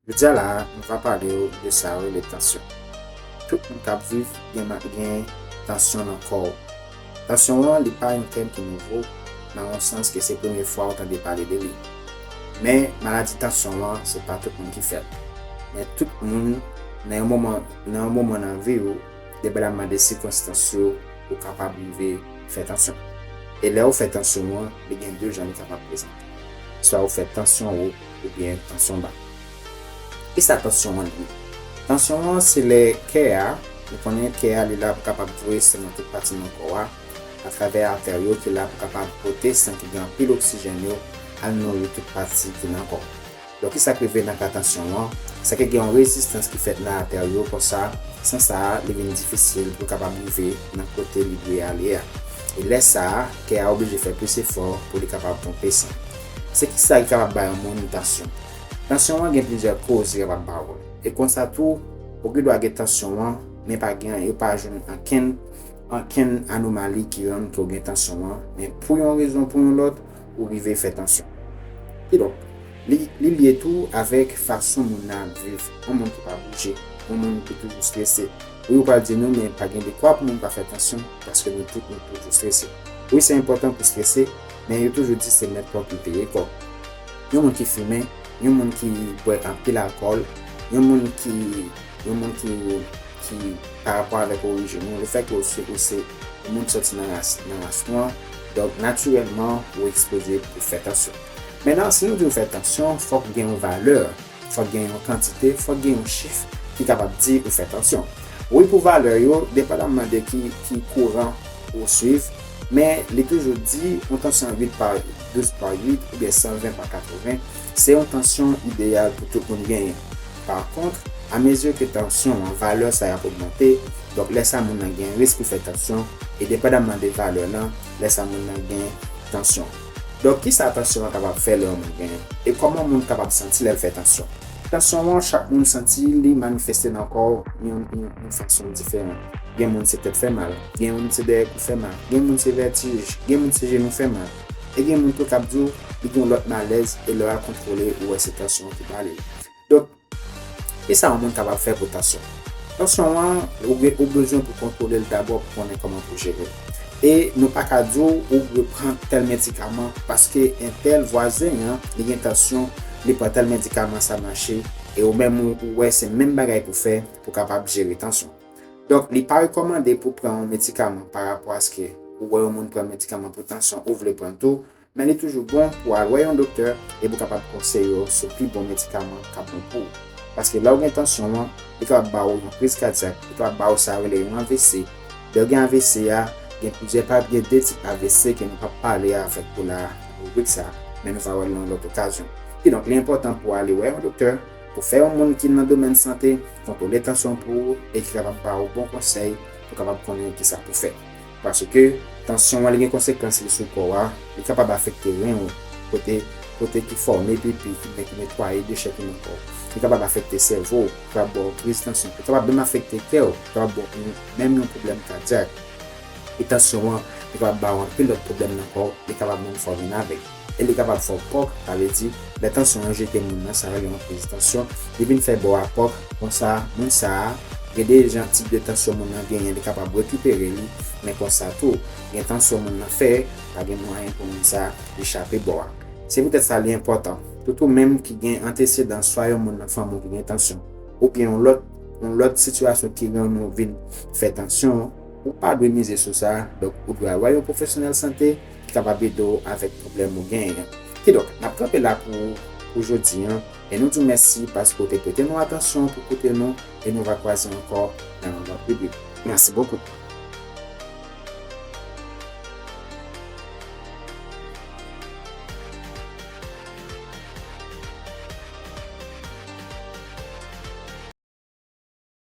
Jodia la a nou va pale ou de sa yo rele tansyon. Tout moun kap viv gen nan gen tansyon nan kò ou. Tansyon an li pa yon tèm ki nouvo nan yon sans ke se premye fwa ou tande pale de li. Men maladi tansyon an se pa tout moun ki fèl. Men tout moun nan yon moman nan yon moman nan vi ou depalamman de sikonstans yo ou kapab rive fè tansyon. E lè ou fè tansyon an li gen 2 jan li kapab prezante. Swa ou fè tansyon ou. oubyen tansyon ba. Kisa tansyon an ye? Tansyon an se lè kè a, nou konnen kè a li la pou kapab voye san nan tout pati nan kò a, atravè atè yo ki la pou kapab pote san ki gen anpil oksijèn yo al nouri tout pati ki nan kò. Donk kisa k rive nan ka tansyon an, se ke gen yon rezistans ki fèt nan atè yo konsa san sa a li vin difisil pou l kapab rive nan kote li dwe ale a. E lè sa a, kè a oblije fè plis efò pou li kapab ponpe san. Se ki sa ki kapab ba yon moun tansyon? Tansyon an gen plizyè koz ki kapab ba ou l. E konsa tou, ou gen dwa gen tansyon an, men pa gen yo pa jwenn ankenn ankenn anomali ki rann ke w gen tansyon an, men pou yon rezon pou yon lòt, ou rive fè tansyon. Kidonk, li li lye tou avèk fason moun nan ap viv. Yon moun ki pa bouje, yon moun ki toujou strese. Wi ou pral di nou men pa gen dekwa pou moun pa fè tansyon paske nou tout nou toujou strese. Wi se enpòtan pou strese. men yo toujou di se mèt kòb ki peye kòb. Yon moun ki fimen, yon moun ki bwè anpil alkòl, yon moun ki, yon moun ki, ki pa rapò avèk orijin ou, lefèt ke ou se, ou se yon moun ki sòti nan ras, nan ras nwa, donk natirèlman ou ekspoze pou fè tansyon. Mennan, si nou di ou fè tansyon, fòk gen yon valè Fòk gen yon kantite, fòk gen yon chif ki kapab di ou fè tansyon. Wi pou valè yo, depandamman de ki kouran ou swiv, men li toujou di yon tansyon 8 pa 12 pa 8 oubyen 120 pa 80, se yon tansyon ideyal pou tout moun genyen. Pa kontr, a mezi ke tansyon an, valè sa yo ap ogmante, donk lè sa moun nan gen risk pou fè tansyon, e depandamman de valè lan, lè sa moun nan gen tansyon. Donk ki sa tansyon an kapab fè lè yon moun genyen? E kòman moun kapab santi lè l fè tansyon? Tansyon an chak moun santi li manifeste nan kò w yon fason diferan. Gen moun se tèt fè mal, gen moun se dèyè kou fè mal, gen moun se vètij, gen moun se jenou fè mal. E gen moun tou k ap di w li gen yon lòt malèz e lè w al kontwole ou wè se tansyon an ki pale. Donk. Kisa yon moun kapab fè pou tansyon? Tansyon an, ou bezwen pou kontwole l dabò pou konnen kòman pou jere l. E nou pa ka di w ou dwe pran tèl medikaman paske entèl vwazen an li gen tansyon li pran tèl medikaman sa mache e ou menm ou wè se menm bagay pou fè pou kapab jere tansyon. Donk li pa rekòmande pou pran yon medikaman parapò aske ou wè yon moun pran medikaman pou tansyon ou vle pran l tou Men li toujou bon pou w al wè yon doktè e pou kapab konseye w sou pi bon medikaman k ap bon pou w. Paske lè w gen tansyon an, li kapab ba w yon kriz kadyak, li kapab ba w sa yo rele yon avc. Lè w gen avc a, gen plizyè pa, gen 2 tip avc ke nou p ap pale avèk ou la a nan ribrik sa a, men nou va wè l nan yon lòt okazyon. Kidonk li enpòtan pou w ale wè yon doktè, pou fè yon moun ki nan domèn sante kontwole tansyon pou ou e ki kapab ba w bon konsèy pou w kapab konnen kisa pou w fè. Paske, tansyon an li gen konsekans li sou kò a, li kapab afekte ren ou, kote kote ki fòme pipi, ki gen ki netwaye dechè ki nan kò ou. Li kapab afekte sèvo ou, li kapab ba w kriz tansyon. Li kapab menm afekte kè ou, li kapab ba w yon menm yon pwoblèm kadyak. E tansyon an, li kapab ba w anpil lòt pwoblèm nan kò ou, li kapab menm fòme nave. e li kapab fè w pòk, sa vle di, lè tansyon an jete moun nan sa yo rele yon kriz tansyon, li vin fè bò a pòk, konsa, moun sa a, gen de jan tip de tansyon moun nan genyen li kapab rekipere li, men konsa tou, gen tansyon moun nan fè, pa gen mwayen pou moun sa a, li chape bò a. Se poutèt sa li enpòtan, tout ou menm ki gen antesedan swa yon moun nan fanmi w ki gen tansyon, oubyen yon lòt, yon lòt sitiyasyon ki rann ou vin fè tansyon, ou pa dwe mize sou sa, donk ou dwe al wè yon pwofesyonèl sante, ki kapab ede w avèk pwoblèm ou genyen an. Kidonk, n ap kanpe la pou ou pou jodi an, e nou di w mèsi paske w te prete nou atansyon pou koute nou, e nou va kwaze ankò nan yon lòt ribrik. Mèsi bokou!